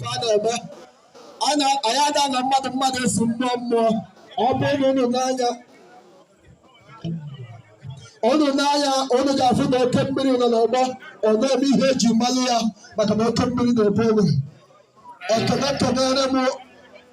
na-eme anyị ada na mmadụ mmadụ esi mmụọ mmụọ ọ bụrụ na unu nee anya unu nee anya unu ga-afụ na oke mmiri nọ n'ọgbọ ọ na-eme ihe eji malụ ya maka na oke mmiri na-ebu ogwe ekene kenere m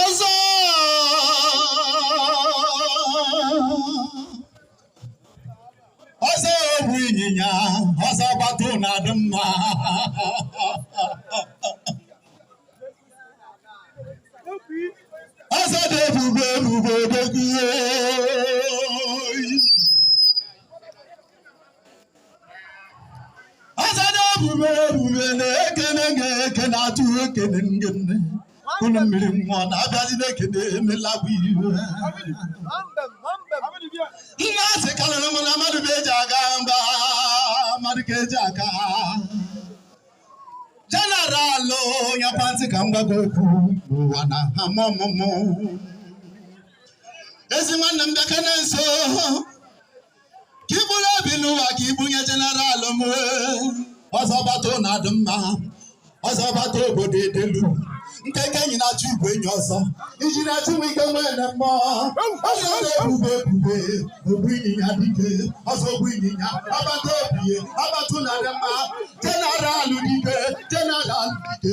ọzọ ọzọ ogbu ịnyịnya ọzọ bata ụnọ adị mma ọzọ dị ebube ebube odogwu ọzọ dị ebube ebube na-ekene gị eke na-atụ ekene Ngene unu mmiri mmụọ na-abịazi na-ekene emela bụ ihe nne asị kalịrị m na mmadụ bụ eji aga mba mmadụ ka eji aga jeneralụ onye pati ka m gwago okwu n'ụwa na ha mụ ọmụmụ ezi nwanne m bịakene nso ka iburu obi n'ụwa ka ibunye jeneral m ọzọ bata ụnọ adị mma ọzọ bata obodo edelu nkeke enyi na-achụ igwe enyi ọzọ injinia Chike nwanne m ọ ọzọ na-ebube ebube ogbu ịnyịnya dike ọzọ ogbu ịnyịnya ọbata obi ọbata ụnọ adị mma jeneral dike jeneral dike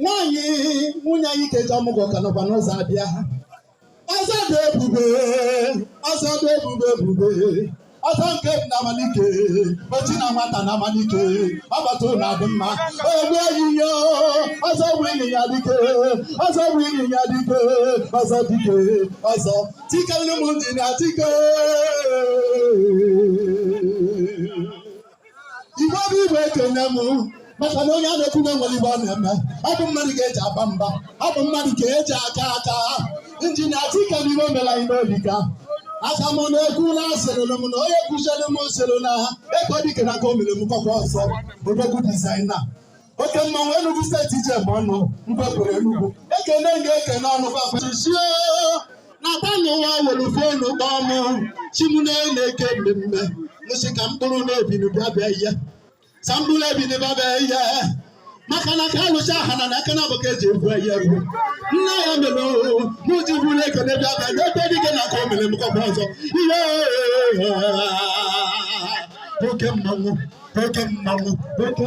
nwaanyị nwunye anyị keji ọmụgwọ ka nọkwa n'ụzọ abịa ọzọ dị ebube ọzọ dị ebube ebube ọzọ nke m na Amanuke ọchị na nwata na Amanuke ọbata ụnọ adị mma ogbu ịnyịnya ọzọ ogbu ịnyịnya dike ọzọ ogbu ịnyịnya dike ọzọ dike ọzọ Chikelu m injinia Chike igbo bụ igbo ekene m maka na onye a na-ekwu na nwere ihe ọ na-eme ọ bụ mmadụ ka eji aba mba ọ bụ mmadụ ka eji aka aka injinia Chike n'ihe o mere anyị n'obi ka aka m na-ekwu na asịrịlụ m na onye kụziere m nsịrị na ha ego dike na ka o mere m kọkwa ọzọ odogwu dizaina oke mmanwụ Enugu steeti ije bụ ọnụ mgbapụrụ Enugu ekene m ga-ekene ọnụ gbapachichie na tanụwa were fonu kpọọ mụ chimune na-eke mmemme mụ sị ka mkpụrụ na-ebinubịabịa ihe sa mkpụrụ ebinubịabịa ihe maka na ka alụcha ha na aka na abụka eji ebu ya ruo nne ya mere mụ ji buru ekene bịa bịa n'ebe dike na ka o mere m kọba ọzọ ihe oke mmanwụ oke mmanwụ oke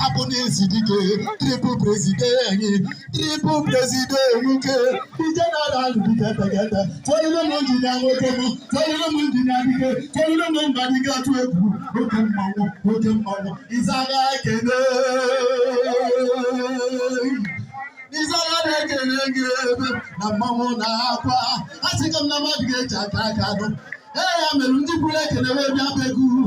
hapụ n'ezi dike triple president anyị triple president Amanuke jeneral dike tegete tụọlụlụ m injinia nwoke m tụọlụlụ m injinia dike tụọlụlụ m mba dike atụ egwu oke mmanwụ oke mmanwụ ịzaga ekene ịzaga na-ekele gị ebe na mmanwụ na-akwa a sị ka m na mmadụ ga-eji aka aka anụ ee ya mere ndị buru ekene wee bịa be gị uru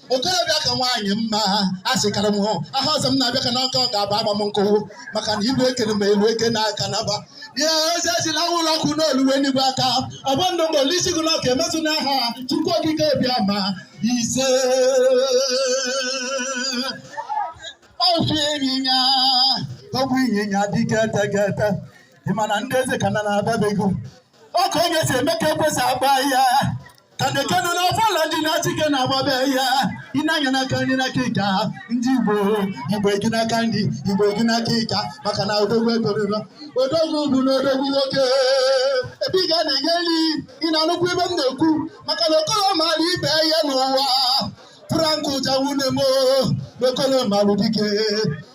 okorobịa ka nwaanyị mma a sịkara m hụ aha ọzọ m na-abịa ka n'ọka ọ ga-aba agba m nkụwụ maka na ibu ekene m elu eke n'aka naba ihe ozi ejila ụlọ ọkụ n'oluwe n'igwe aka ọ bụ ndụ m gọọlụ isi gị na ọ ga-emezu n'aha Chukwu okike abịama ise ofu ịnyịnya ogbu ịnyịnya dike tegete ị ma na ndị eze ka na na-abịa be gị ọkụ onye si eme ka ekwesị agba ya ka dekenu n'ọfala ndị na-achike na-agbabe ya ịnanya n'aka nri n'aka ịka ndị igbo igbo gị n'aka nri igbo gị n'aka ịka maka na odogwu etoriro odogwu bụ na odogwu nwoke ebe ị ga na-enye nri ị na-anụkwa ife m na-ekwu maka na okoro maara ibe ya n'ụwa Frank ụja nwanne m okoro marụ dike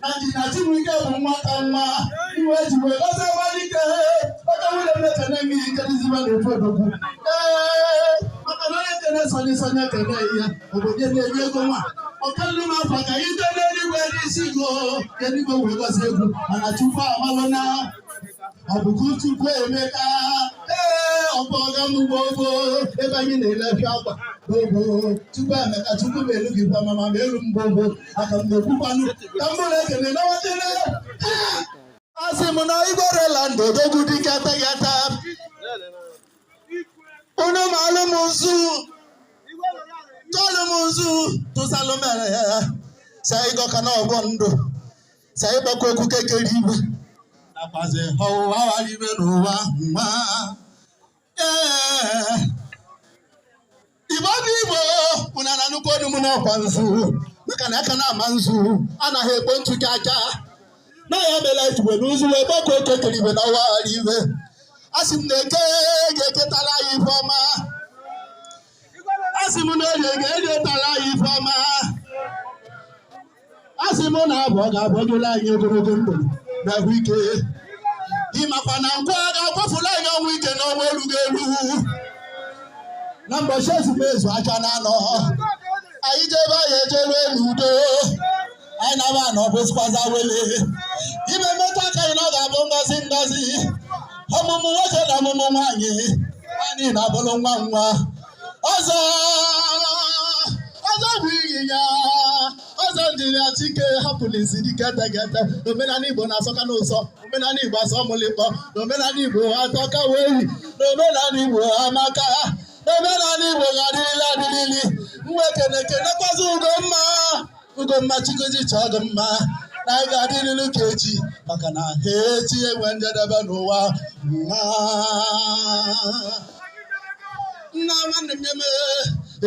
na injinia Chibuike bụ nwata nwa igwe ji wee gọzie Amanuke oke nwanne m ekene gị ikedizibe na ofe odogwu ee maka na onye kene Sunny Sunny ekene ya obodo na-enye ego nwa ọkanụ m afọ ka ite n'eluigwe n'isi go eluigwe wee gọzie egwu mana Chukwu amalụ na ọ bụ ka Chukwu emeka ee ọ bụ ọga m ugbo ogbo ebe anyị na-elefi akwa ogbo Chukwu emeka Chukwu m elu gị gwa mama m elu mgbogbo aka m na-ekwukwanụ ka m buru ekene nawatele asị m na igwerela ndụ odogwu dike tegete unu maalụ m nzu tụọlụ m nzu tụsalụ mere ya sa ịgọka na ọ bụ ndụ sa ịgbaku okike kere igwe nakwazi ọwụwa wara ife n'ụwa nwa igbo ndị igbo mụna na nnukwu ọdụm n'ọkwa nzu maka na aka na-ama nzu anaghị ekpo ntụ gị aka na ya mela e ji welu nzu wee gbaku okike kere igwe n'ọwa wara ife a sị m na eke ga-eketara anyị ife ọma a sị m na orie ga-erietara anyị ife ọma a sị m na afọ ga-afọgolu anyị ogologo ndụ na ahụike ịmakwa na nkwọ ga-akwọfulu anyị ọnwụ ike na ọnwụ erughị eru na mbọchị ezumezu aka na anọ anyị jebe anyị ejere n'udo anyị naba na ọ bụzikwaza wele ife mmeta aka anyị na ọ ga-abụ ngọzi ngọzi ọmụmụ nwoke na ọmụmụ nwaanyị anyị na-abụrụ nwa nwa ọzọ ọzọ bụ ịnyịnya ọzọ injinia Chike hapụrụ isi dike tegete na omenala igbo na-asọka n'ụsọ omenala igbo asọ mụlịkpọ na omenala igbo atọka wee yi na omenala igbo amaka na omenala igbo ga-adịrịla adịrịli m wee kene kenekwazị ugo mma Ugomma Chukwu ji chọọ gị mma na anyị ga-adịrịrị ka echi maka na ha echi enwe njedebe n'ụwa nwa nna nwanne m eme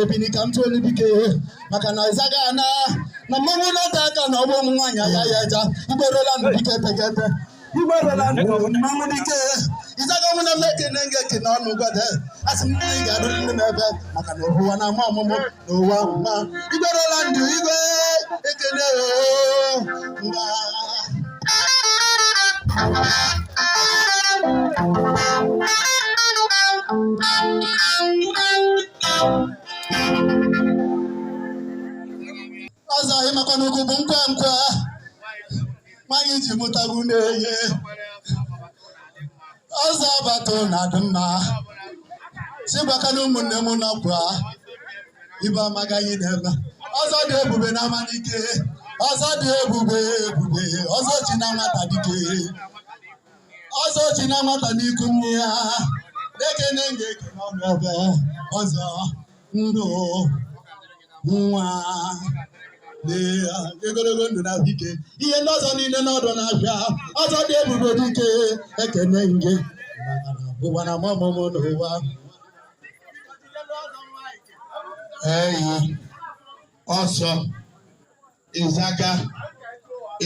ebini ka m tụọ olu bike maka na ịzaga ana na mmanwụ na-ata aka na ọgbọ ụmụ nwaanyị ya ya eja igberola na dike tegete Igbo rela ndụ mmanwụ dike ịzaga ọnwụ na m ekene nge ekene ọnụ gwada asị m ị ga-arụ ndị na-ebe maka na ụwa na ama ọmụmụ na ụwa mma Igbo rela ndụ igwe ekele oo mba ọzọ ịmakwa n'ugwu bụ nkwa nkwa nwaanyị ji mụtagbu na-enye ọzọ abata na adị mma sigbaka na ụmụnne m nakwa ibe amagaghị n'ebe ọzọ dị ebube na Amanike ọzọ dị ebube ebube ọzọ chi na nwata dike ọzọ chi na nwata n'iku nne ya na-ekene nge ekene ọnụ ebe ọzọ ndụ nwa ogologo ndụ na ike ihe ndị ọzọ niile n'ọdụ na-abịa ọzọ dị ebube dike ekene nge ụwa na ama ọmụmụ n'ụwa eyi ọsọ ịzaga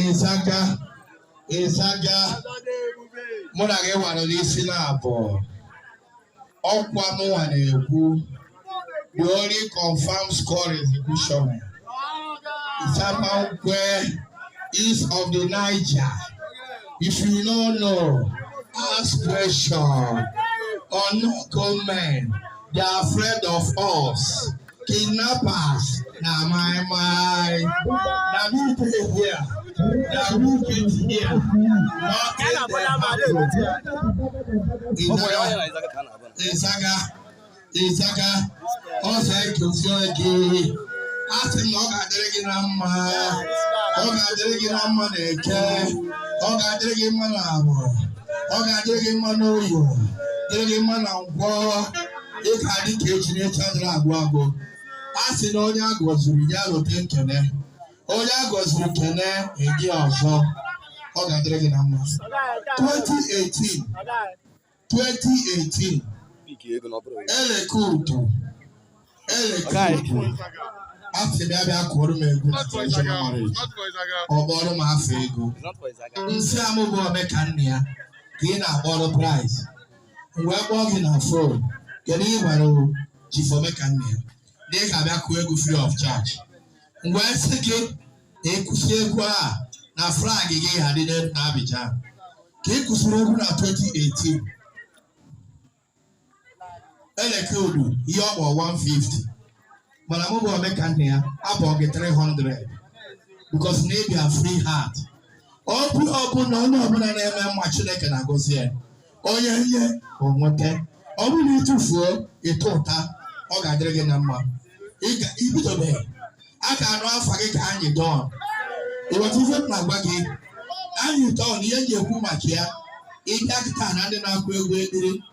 ịzaga ịzaga mụ na gị nwara n'isi na-abụ ọ kwa mụnwa na-ekwu the only confirm score is Ibushom Isapankwe east of the Niger if you no know ask question unknown gunmen they are afraid of us. kidnappers na moi moi. Na me dey here, na me get here. Nothing dey happen. Nna ịzaga ịzaga ọ̀sẹ̀ kìí ọ̀gì. A sị m na ọ ga-adịrị gị na mma, ọ ga-adịrị gị na mma na eke, ọ ga-adịrị gị mma na afọ, ọ ga-adịrị gị mma n'oye, dịrị gị mma na nkwọ. ị ga-adị ka echi na echi adịrị agwụ agwụ a sị na onye a gọziri ya rote nkene onye a gọziri kene edi ọzọ ọ ga-adịrị gị na mma 2018 2018 eleke utu eleke utu a sị m ya bịa kụọrọ m egwu na traditional marriage ọ kpọrọ m afa ego m sị a mụ bụ ome ka nna ya ka ị na-akpọrọ price m wee kpọọ gị na fon kedu ihe gwara o Chief Omeka nna ya na ị ga-abịa kụọ egwu free of charge m wee sị gị na ị kụsịa egwu a na flag gị ga-adị na Abidjan ka ị kụsịrị egwu na 2018 eleke odu ihe ọ kpọ 150 mana mụ bụ Omeka nna ya akwụọ gị 300 because na ị bịa free heart obi ọbụla onye ọbụla na-eme mma chineke na-agọzi ya onye nye o nweta ọ bụrụ na ị tufuo ị tụtụta ọ ga-adịrị gị na mma i bidobeghị a ga-anụ afa gị ka Anyidons ị ghọta ife m na-agwa gị Anyidons na ihe m ji ekwu maka ya ị bịa kịta na ndị na-akụ egwu ekpili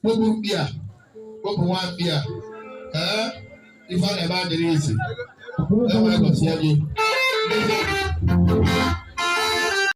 kpopụ mkpi a kpopụ nwa mkpi a ee ife a na-eme adịrị easy enwere gọzie gị